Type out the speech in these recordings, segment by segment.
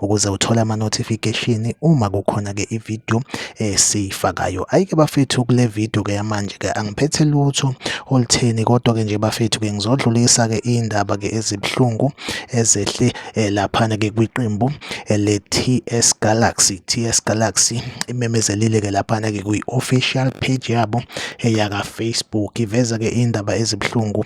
ukuze uthole ama-notification uma kukhona-ke ividiyo esiyifakayo. Eh, Ayike bafethu kule vidiyo-ke yamanje-ke angiphethe lutho olutheni kodwa-ke nje bafethu-ke ngizodlulisa-ke iy'ndaba-ke ezibuhlungu ezehle eh, laphana-ke kwiqembu eh, le-TS Galaxy. TS Galaxy imemezelile-ke laphana-ke kwi-official page yabo eyaka-Facebook iveza-ke iy'ndaba ezibuhlungu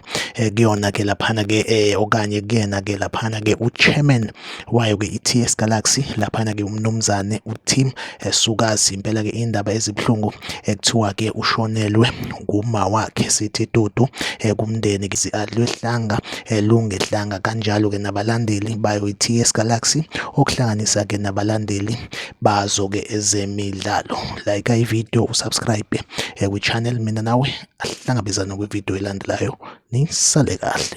kuyona-ke laphana-ke okanye kuyena-ke laphana-ke u-chairman wayo ke i-TS Galaxy laphana ke umnumzane uTim Sukazi impela ke indaba ezibuhlungu ekuthiwa ke ushonelwe nguma wakhe sithi dudu eh, kumndeni ke adlwehlanga eh, lungehlanga kanjalo ke nabalandeli bayo i-TS Galaxy okuhlanganisa ke nabalandeli bazo ke ezemidlalo like i video usubscribe eh, kwi channel mina nawe ahlangabezana kwi video elandelayo nisale kahle